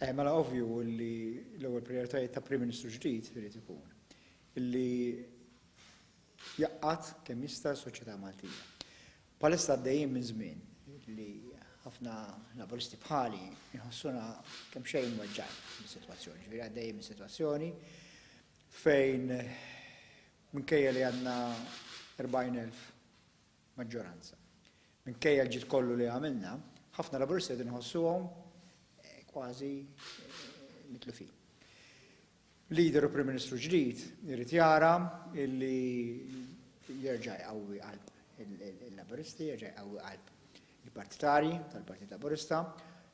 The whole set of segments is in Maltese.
Eh, mela ovvju li l-ewwel prioritajiet ta' Prim Ministru ġdid irid ikun li jaqqat kemm jista' s-soċjetà Maltija. Palissa għaddejjin minn żmien li ħafna laburisti bħali jħossuna kemm xejn weġġan mis-sitwazzjoni. Ġifieri għaddejjin minn sitwazzjoni fejn minkejja li għandna 40,000 maġġoranza. Minkejja l-ġid kollu li għamilna, ħafna Laburisti qed inħossuhom kważi mitlufin. Leader u Prim Ministru ġdid irid jara li jerġa' jqawwi qalb il-Laburisti, jerġa' jqawwi qalb il-partitarji tal-Partit Laburista.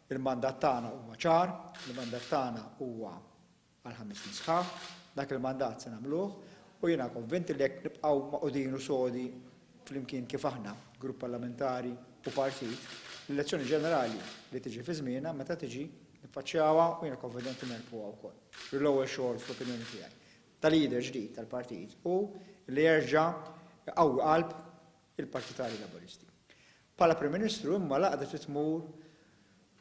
Il-mandat tagħna huwa ċar, il-mandat tagħna huwa għal ħames snin sħaħ, dak il-mandat se nagħmluh u jiena konvint li jekk nibqgħu magħqudin u sodi flimkien kif aħna, grupp parlamentari u partit, l-elezzjoni ġenerali li tiġi fi żmienha meta tiġi niffaċċjawha u jiena konvident li nerbħuha wkoll. L-ewwel xogħol fl-opinjoni tiegħi ta' leader ġdid tal-partit hu li jerġa' iqawwi qalb il-partitarji Laburisti. Bħala Prim Ministru imma l-għaqda trid tmur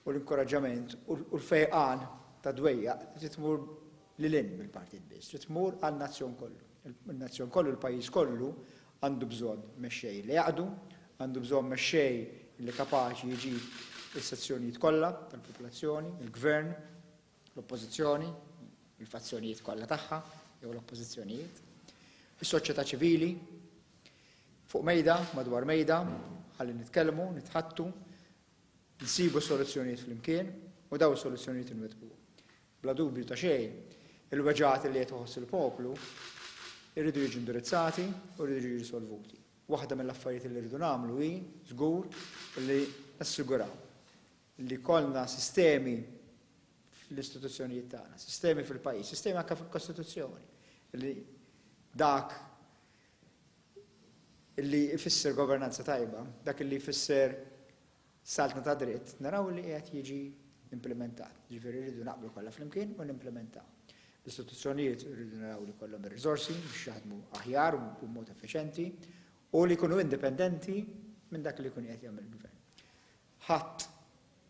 u l-inkoraġġament u l-fejqan tad-dwejjaq trid tmur lil hinn mill-partit biss, trid tmur għan-nazzjon kollu. In-nazzjon kollu, il-pajjiż kollu għandu bżonn mexxej li jaqdu, għandu bżonn mexxej li kapaċi jġib is-sezzjonijiet kollha tal-popolazzjoni, il-gvern, l-Oppożizzjoni, il-fazzjonijiet kollha tagħha jew l-oppożizzjonijiet, is-soċjetà ċivili, fuq mejda, madwar mejda, ħalli nitkellmu, nitħattu, nsibu soluzzjonijiet flimkien u daw is-soluzzjonijiet inwettqu. Bla dubju ta' xejn, il-weġgħat li qed iħoss il-poplu irridu jiġu indirizzati u rridu jiġu risolvuti. Waħda mill-affarijiet li rridu nagħmlu hi żgur li nassiguraw li jkollna sistemi fl-istituzzjonijiet tagħna, sistemi fil-pajjiż, sistemi anke fil-Kostituzzjoni, li dak li jfisser governanza tajba, dak li jfisser saltna ta' dritt, naraw li qed jiġi implementat. Ġifieri rridu naqblu kollha flimkien u nimplementaw. L-istituzzjonijiet rridu naraw li kollhom ir-riżorsi biex jaħdmu aħjar u b'mod effiċenti u li jkunu indipendenti minn dak li jkun qed jagħmel il-gvern. Ħadd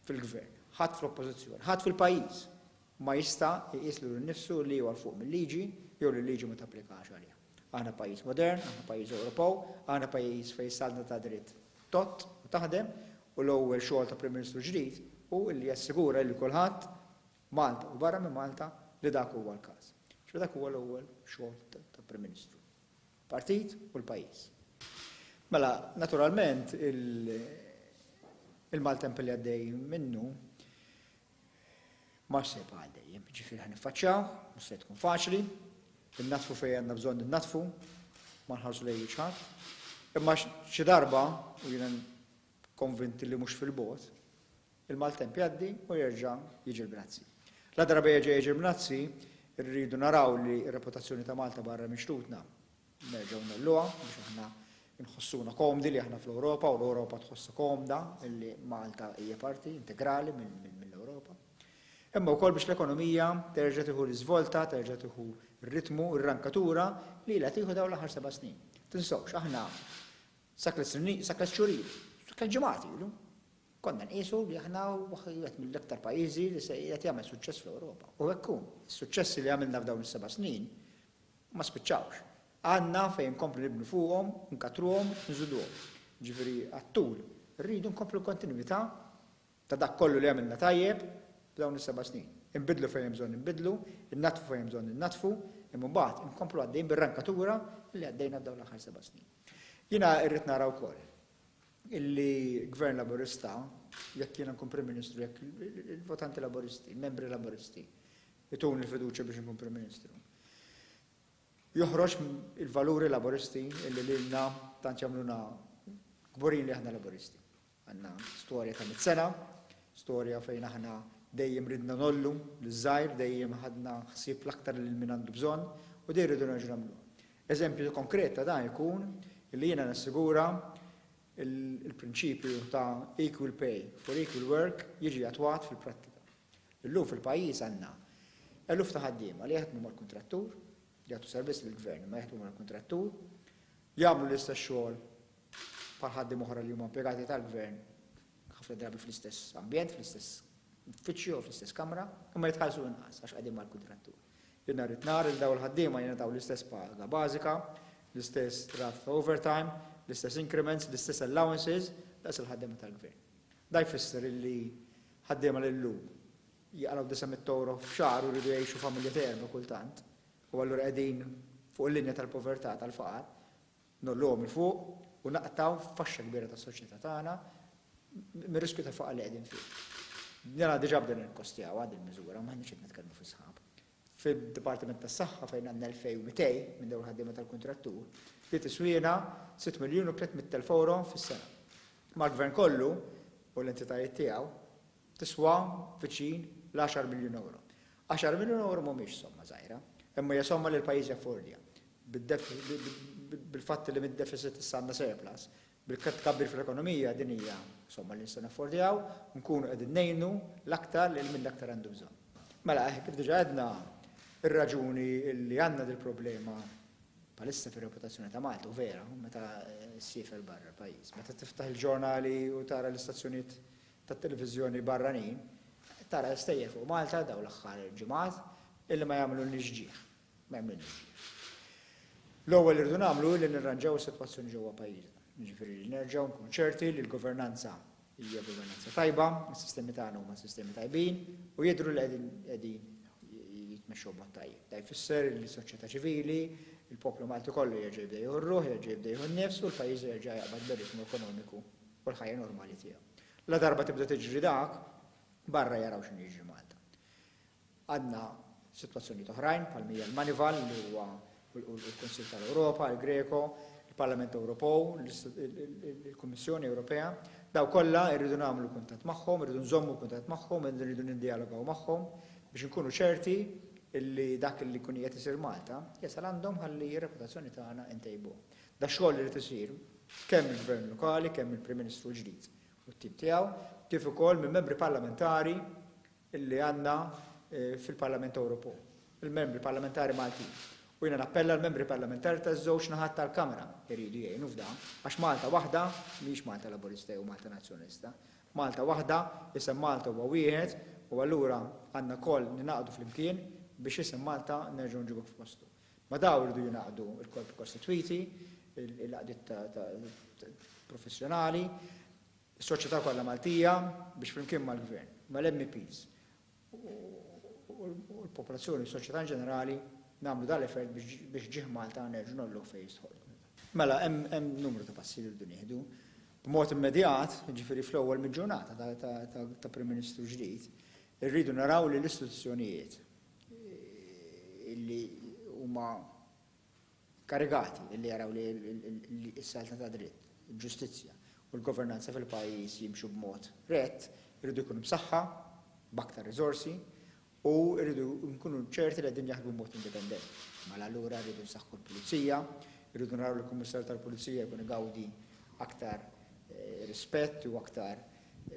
fil-Gvern, ħadd fl-Oppożizzjoni, ħadd fil-pajjiż ma jista' iqis lilu nnifsu li huwa 'l fuq mil-liġi jew li l-liġi ma tapplikax għalih. Aħna pajjiż modern, aħna pajjiż Ewropew, aħna pajjiż fejn is-saltna tad-dritt tgħodd u taħdem u l-ewwel xogħol ta' Prim Ministru ġdid hu li jassigura lil kulħadd, Malta u barra minn Malta, li dak huwa l-każ. Ġifieri dak huwa l-ewwel xogħol ta' Prim Ministru. partit u l-pajjiż. Mela, naturalment, il-maltemp li għaddej minnu ma se jibqa' għal dejjem, jiġifieri ħa niffaċċjawh, mhux se tkun faċli, innaddfu fejn għandna bżonn innaddfu, ma nħarsu lejn wiċċ ħadd. Imma xi darba, u jiena Konvinti li mhux fil-bogħod, il-maltemp jgħaddi u jerġa' jiġi l-Bnazzi. La darba jerġa' jiġi l-Bnazzi, irridu naraw li r-reputazzjoni ta' Malta barra minn xtutna nerġgħu ngħolluha biex aħna nħossuna komdi li aħna fl-Ewropa u l-Ewropa tħossha komda li Malta hija parti integrali mill-Ewropa. Imma wkoll biex l-ekonomija terġa' tieħu l-iżvolta, terġa' tieħu r-ritmu, r-rankatura li ilha tieħu dawn l-aħħar seba' snin. Tinsewx, aħna Sakemm xhur ilu, sakemm ġimgħat ilu, konna nqisu li aħna wieħed mill-iktar pajjiżi li se qiegħed jagħmel suċċess fl-Ewropa. U hekk hu. Is-suċċessi li għamilna f'dawn is-seba' snin ma spiċċawx. Għandna fejn inkomplu nibnu fuqhom, inkattruhom, nżiduhom. Jiġifieri għat-tul. Irridu nkomplu l-kontinwità ta' dak kollu li għamilna tajjeb f'dawn is-seba' snin. Inbiddlu fejn hemm bżonn inbiddlu, innaddfu fejn hemm bżonn innaddfu, imma mbagħad inkomplu għaddejjin bir-rankatura li għaddejna f'dawn l-aħħar seba' snin. Jiena rrid nara wkoll illi Gvern Laburista, jekk jiena nkun Prim Ministru, jekk il-votanti Laburisti, il-membri Laburisti jtuni l-fiduċja biex inkun Prim Ministru, joħroġ il-valuri Laburisti illi lilna tant jagħmluna kburin li aħna Laburisti. Għandna storja ta' mitt sena, storja fejn aħna dejjem ridna ngħollu liż-żgħir, dejjem ħadna ħsieb l-aktar lil min għandu bżonn u dejjem irridu nerġgħu nagħmluha. Eżempju konkret ta' dan ikun li jiena nassigura l-prinċipju ta' equal pay for equal work jiġi attwat fil-prattika. Illum fil-pajjiż għandna eluf ta' ħaddiema li jaħdmu mal-kuntrattur, jagħtu servizz lill-Gvern imma jaħdmu mal-kuntrattur, jagħmlu l-istess xogħol bħal ħaddiema oħra li huma impjegati tal-gvern, ħafna drabi fl-istess ambjent, fl-istess uffiċċju jew fl-istess kamra, imma jitħallsu inqas għax qegħdin mal-kuntrattur. Li nhar it-nhar lil dawn il-ħaddiema jingħataw l-istess paga bażika, l-istess rata ta' overtime, l-istess increments, l-istess allowances daqs il-ħaddiema tal-gvern. Dan jfisser li ħaddiema li llum jaqlgħu disa' mitt ewro f'xahar u jridu jgħixu familja ta' erbgħa kultant, u allura qegħdin fuq il-linja tal-povertà, tal-faqar, ngħolluhom 'il fuq u naqtgħu faxxa kbira tas-soċjetà tagħna mir-riskju tal-faqar li qegħdin fih. Dina diġà bdejna nikkostjawha din il-miżura, m'aħniex qed nitkellmu fis-sħab. Fid-Dipartiment tas-Saħħa fejn għandna 2,200 minn dawn il-ħaddiema tal-kuntrattur, li tiswiena sitt miljun u tliet mitt elf ewro fis-sena. Mal-Gvern kollu u l-entitajiet tiegħu, tiswa viċin l-għaxar miljun ewro. Għaxar miljun ewro mhumiex somma żgħira, imma hija somma li l-pajjiż jaffordja, bil-fatt li mid-defiċit issa għandna surplus, bil-tkabbir fl-ekonomija din hija somma li nistgħu naffordjaw u nkunu qegħdin ngħinu l-aktar lil min l-aktar għandu bżonn. Mela, kif diġà għedna, ir-raġuni li għandna dil-problema bħalissa fir-reputazzjoni ta' Malta, u vera, meta ssiefer barra l-pajjiż, meta tiftaħ il-ġurnali u tara l-istazzjonijiet tat-televiżjoni barranin qed tara l-istejjer fuq Malta dawn l-aħħar ġimgħat illi ma jagħmlulniex ġieħ. Ma jagħmlulniex ġieħ. L-ewwel li rridu nagħmlu hi li nirranġaw is-sitwazzjoni ġewwa pajjiżna. Jiġifieri li nerġgħu nkunu ċerti li l-governanza hija governanza tajba, is-sistemi tagħna huma sistemi tajbin u jidhru li qegħdin qegħdin jitmexxew b'mod tajjeb. Da jfisser li s-soċjetà ċivili, il-poplu Malti kollu jerġa' jibda jieħu r-ruħ, jerġa' jibda jieħu n-nifs u l-pajjiż jerġa' jaqbad bir-ritmu ekonomiku u l-ħajja normali tiegħu. Ladarba tibda tiġri dak, barra jaraw x'inhu jiġri Malta. Għandna sitwazzjonijiet oħrajn bħal mija l-Manival li huwa u l-Kunsill tal-Ewropa, il-Greco, il-Parlament Ewropew, il-Kummissjoni Ewropea, daw kollha rridu nagħmlu kuntatt magħhom, irridu nżommu kuntatt magħhom, irridu niddialogaw magħhom biex inkunu ċerti li dak li jkun qiegħed isir Malta jasal għandhom ħalli r-reputazzjoni tagħna ntejbuha. Dax-xogħol irid isir kemm mill-Gvern Lokali, kemm mill-Prim Ministru l-ġdid u t-tim tiegħu, kif ukoll minn Membri Parlamentari li għandna fil-Parlament Ewropew, il-Membri Parlamentari Maltin. U jiena nappella l-Membri Parlamentari taż-żewġ naħat tal-Kamra jridu jgħinu f'dan, għax Malta waħda mhijiex Malta Laburista jew Malta Nazzjonalista. Malta waħda, isem Malta huwa wieħed u allura għandna lkoll ningħaqdu flimkien biex isem Malta nerġgħu nġibuh f'postu. Ma' dawn iridu jingħaqdu l-korpi kostitwiti, l-għaqdiet professjonali, is-soċjetà kollha Maltija biex flimkien mal-Gvern, mal-MEPs u l-popolazzjoni u s-soċjetà inġenerali nagħmlu dan l-effort biex ġieħ Malta nerġgħu ngħolluh fejn jistħoqqlu. Mela hemm numru ta' passi li rridu nieħdu. B'mod immedjat, jiġifieri fl-ewwel mill-ġurnata ta' Prim Ministru ġdid, irridu naraw li l-istituzzjonijiet illi huma karigati illi jaraw li s-saltna tad-dritt, il-ġustizzja u l-governanza fil-pajjiż jimxu b'mod rett iridu jkunu msaħħa b'aktar riżorsi u rridu nkunu ċerti li qegħdin jaħdmu b'mod indipendenti. Mela allura rridu nsaħħu l-pulizija, irridu naraw li l-Kummissarju tal-Pulizija jkun igawdi aktar rispett u aktar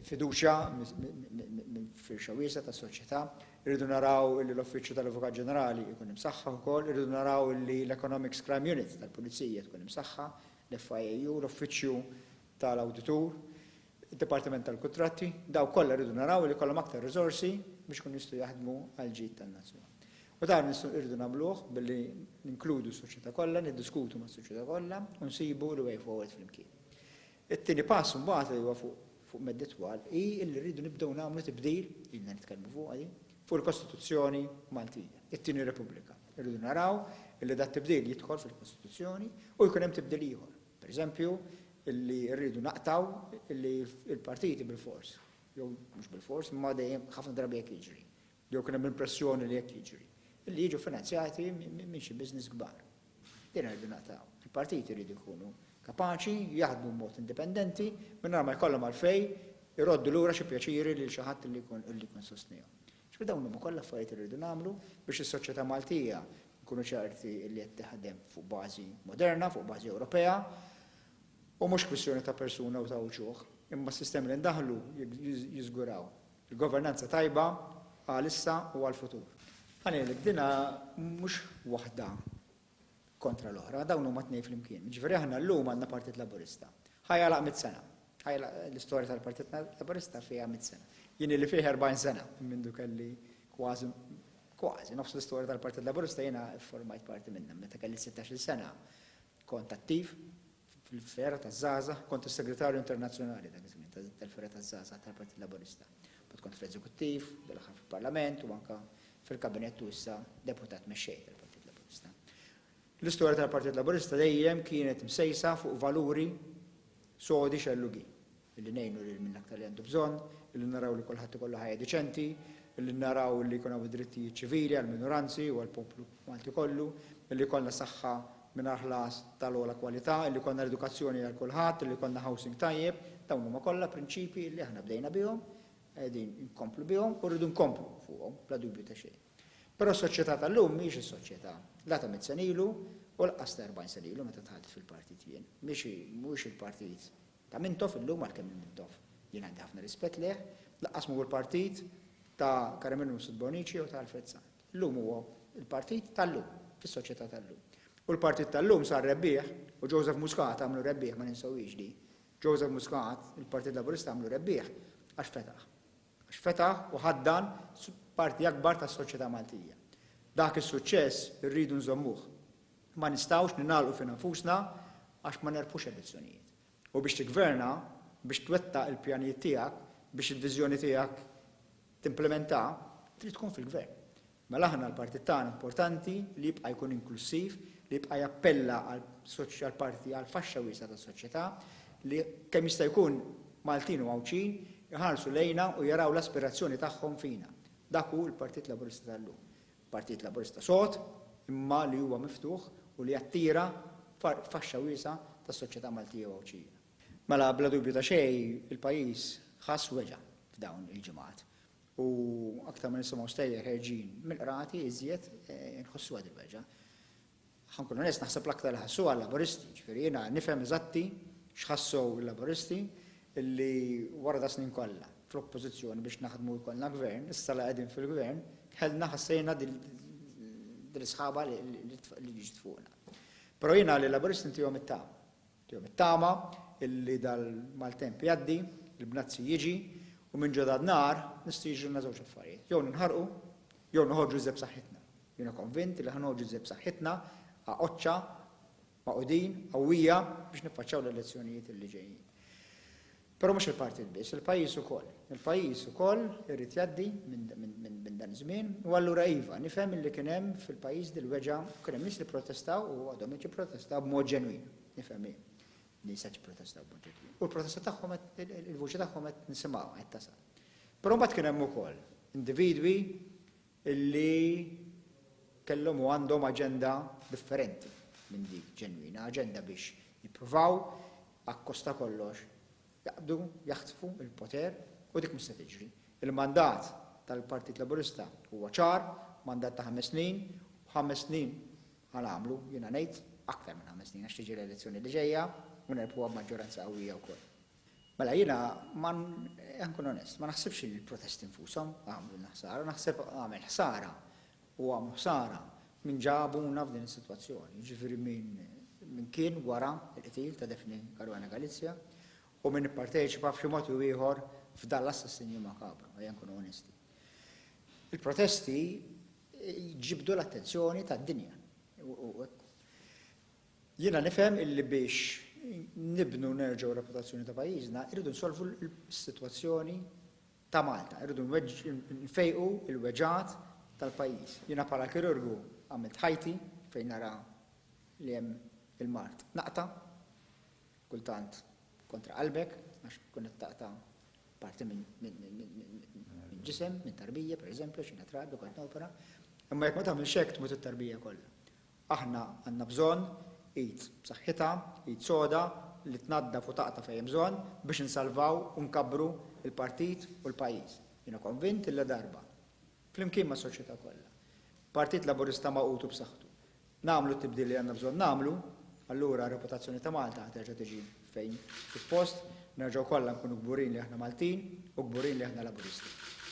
fiduċja minn firxa wiesgħa ta' soċjetà, irridu naraw li l-Uffiċċju tal-Avukat Ġenerali jkun imsaħħaħ ukoll, irridu naraw li l-Economics Crime Unit tal-Pulizija tkun imsaħħa, l-FIAU, l-Uffiċċju tal-Awditur, id-Dipartiment tal-Kuntratti, dawk kollha rridu naraw li jkollhom aktar riżorsi biex ikunu jistgħu jaħdmu għall-ġid tan-nazzjon. U dan irridu nagħmluh billi ninkludu s-soċjetà kollha, niddiskutu mas-soċjetà kollha u nsibu l-way forward flimkien. It-tieni pass imbagħad li huwa fuq medda itwal hi li rridu nibdew nagħmlu tibdil, ilna nitkellmu fuqha din, fuq il-Kostituzzjoni Maltija, it-Tieni Repubblika. Irridu naraw illi dat-tibdil jidħol fil-Kostituzzjoni u jkun hemm tibdil ieħor. Per eżempju, illi rridu naqtgħu illi l-partiti bilfors, jew mhux bilfors, imma dejjem ħafna drabi hekk jiġri, Jew kien hemm l-impressjoni li hekk jiġri. Li jiġu finanzjati minn xi business kbar. Din irridu naqtgħu. Il-partiti jridu jkunu kapaċi jaħdmu b'mod indipendenti mingħajr ma jkollhom għalfejn iroddu lura xi pjaċiri lil xi ħadd li jkun sostnihom. Jiġifieri dawn huma kollha affarijiet li rridu nagħmlu biex is-soċjetà Maltija nkunu ċerti li qed taħdem fuq bażi moderna, fuq bażi Ewropea u mhux kwistjoni ta' persuna u ta' uċuħ. Imma s-sistemi li ndaħħlu jiżguraw Il-governanza tajba għalissa u għall-futur. Għalhekk dinha mhux waħda kontra l-oħra, dawn huma t-tnejn flimkien. Jiġifieri aħna llum għandna Partit Laburista. Ħa jagħlaq mitt sena. L-istorja tal-Partit Laburista fiha mitt sena. Jien illi fih 40 sena mindu kelli kważi kważi nofs l-istorja tal-Partit Laburista jiena formajt parti minnha. Meta kelli 16-il sena kont attiv fil-fergħa taż-żgħażagħ, kont is-Segretarju Internazzjonali dak iż-żmien tal-fergħa taż-żgħażagħ tal-Partit Laburista. Mbagħad kont fl-Eżekuttiv, dal-aħħar fil-Parlament u anke fil-Kabinett u issa Deputat Mexxej tal-Partit Laburista. L-istorja tal-Partit Laburista dejjem kienet msejsa fuq valuri sodi xellugi. Illi ngħinu lil min aktar li għandu bżonn, illi naraw li kulħadd ikollu ħajja diċenti, illi naraw illi jkun hawn id-drittijiet ċivili għall-minoranzi u għall-poplu Malti kollu, illi jkollna saħħa mingħajr ħlas tal-ogħla kwalità, illi jkollna l-edukazzjoni għal kulħadd, illi jkollna housing tajjeb, dawn huma kollha prinċipji illi aħna bdejna bihom, qegħdin inkomplu bihom u rridu nkomplu fuqhom bla dubju ta' xejn. Però s-soċjetà tal-lum mhijiex is-soċjetà la ta' mitt sena ilu u lanqas ta' erbgħin sena ilu meta dħalt fil-partit jien. Mhix hi, mhuwiex il-partit Ta' Mintoff illum għalkemm minn Mintoff jien għandi ħafna rispett lejh, lanqas m'hu l-partit ta' Karamelu Mifsud Bonnici jew ta' Alfred Sant. Illum huwa l-partit tal-lum, fis-soċjetà tal-lum. U l-partit tal-lum sar rebbieħ, u Joseph Muscat għamlu rebbieħ ma ninsewhiex di, Joseph Muscat, il-Partit Laburista għamlu rebbieħ għax fetaħ. Għax fetaħ u ħaddan parti akbar tas-soċjetà Maltija. Dak is-suċċess irridu nżommuh. Ma nistgħux ningħalqu fi nfusna għax ma nerbħux elezzjonijiet. U biex tiggverna, biex twettaq il-pjanijiet tiegħek, biex il-viżjoni tiegħek timplimenta, trid tkun fil-gvern. Mela aħna l-partit tagħna importanti li jibqa' jkun inklussiv, li jibqa' jappella għal għall-parti għal faxxa wiesgħa tas-soċjetà, li kemm jista' jkun Maltin u Għawdxin iħarsu lejna u jaraw l-aspirazzjoni tagħhom fina. Dak hu l-Partit Laburista tal-lum. Partit Laburista sod, imma li huwa miftuħ u li jattira faxxa wiesgħa tas-soċjetà Maltija u Għawdxija. Mela bla dubju ta' xejn il-pajjiż ħass weġgħa f'dawn il-ġimgħat u aktar ma nisimgħu stejjer ħerġin mill-qrati iżjed inħossuha dil-weġgħa. Ħa nkun onest, naħseb l-aktar li ħassuha l-Laburisti, ġifieri jiena nifhem eżatti x'ħassew il-Laburisti li wara das-snin kollha fl-Oppożizzjoni biex naħdmu u jkollna Gvern, issa li qegħdin fil-Gvern, kellna ħassejna din l-isħaba li ġiet fuqna. Però jiena lill-Laburisti ntihom it-tama. Tihom it-tama illi dal-maltemp jgħaddi, il-bnazzi jiġi, u minn ġodha n-nar nistgħu jiġrilna żewġ affarijiet, jew ninħarqu, jew noħorġu iżjed b'saħħitna. Jiena konvint illi ħa noħorġu iżjed b'saħħitna, għaqodxa, magħqudin, qawwija biex niffaċċjaw l-elezzjonijiet illi ġejjin. Però mhux il-partit biss, il-pajjiż ukoll. Il-pajjiż ukoll irid jgħaddi minn dan iż-żmien u allura iva, nifhem illi kien hemm fil-pajjiż dil-weġgħa u kien hemm nies li pprotestaw u għadhom qed jipprotestaw b'mod ġenwin. Nifhem li nies qed jipprotestaw b'mod ġenwin u l-protesta tagħhom qed il-vuċi tagħhom qed nisimgħuha qed tasal. Però mbagħad kien hemm ukoll individwi illi kellhom u għandhom aġenda differenti minn dik ġenwina, aġenda biex jippruvaw akkost ta' kollox jaqbdu, jaħtfu l-poter u dik mhux se tiġri. Il-mandat tal-Partit Laburista huwa ċar, mandat ta' ħames snin u ħames snin ħa nagħmlu, jiena ngħid, aktar minn ħames snin għax tiġi l-elezzjoni li ġejja u nerbħuha b'maġġoranza qawwija wkoll. Mela jiena ma nkun onest, ma naħsibx li l-protesti nfushom għamlulna ħsara, naħseb għamel ħsara u għamu ħsara min ġabuna f'din is-sitwazzjoni, jiġifieri min kien wara l-qtil ta' Daphne Caruana Galizia u min ipparteċipa b'xi mod jew ieħor f'dan l-assassinju makabru, ejja nkunu onesti. Il-protesti ġibdu l-attenzjoni tad-dinja u hekk. Jiena nifhem illi biex nibnu nerġgħu reputazzjoni ta' pajjiżna irridu nsolvu l-sitwazzjoni ta' Malta, irridu nfejqu l-weġgħat tal-pajjiż. Jiena bħala kirurgu għamilt ħajti fejn nara li hemm il-mard naqta', kultant kontra qalbek għax tkun qed taqta' parti minn ġisem, minn tarbija pereżempju għax jiena trabi kont nopera, imma jekk ma tagħmilx hekk tmut it-tarbija kollha. Aħna għandna bżonn id b'saħħitha, id soda li tnaddaf u taqta' fejn hemm bżonn biex insalvaw u nkabbru l-partit u l-pajjiż. Jiena konvint li ladarba, flimkien mas-soċjetà kollha, Partit Laburista magħqud u b'saħħtu, nagħmlu t-tibdil li għandna bżonn nagħmlu, allura r-reputazzjoni ta' Malta ħa terġa' tiġi fejn suppost, nerġgħu kollha nkunu kburin li aħna Maltin u kburin li aħna Laburisti.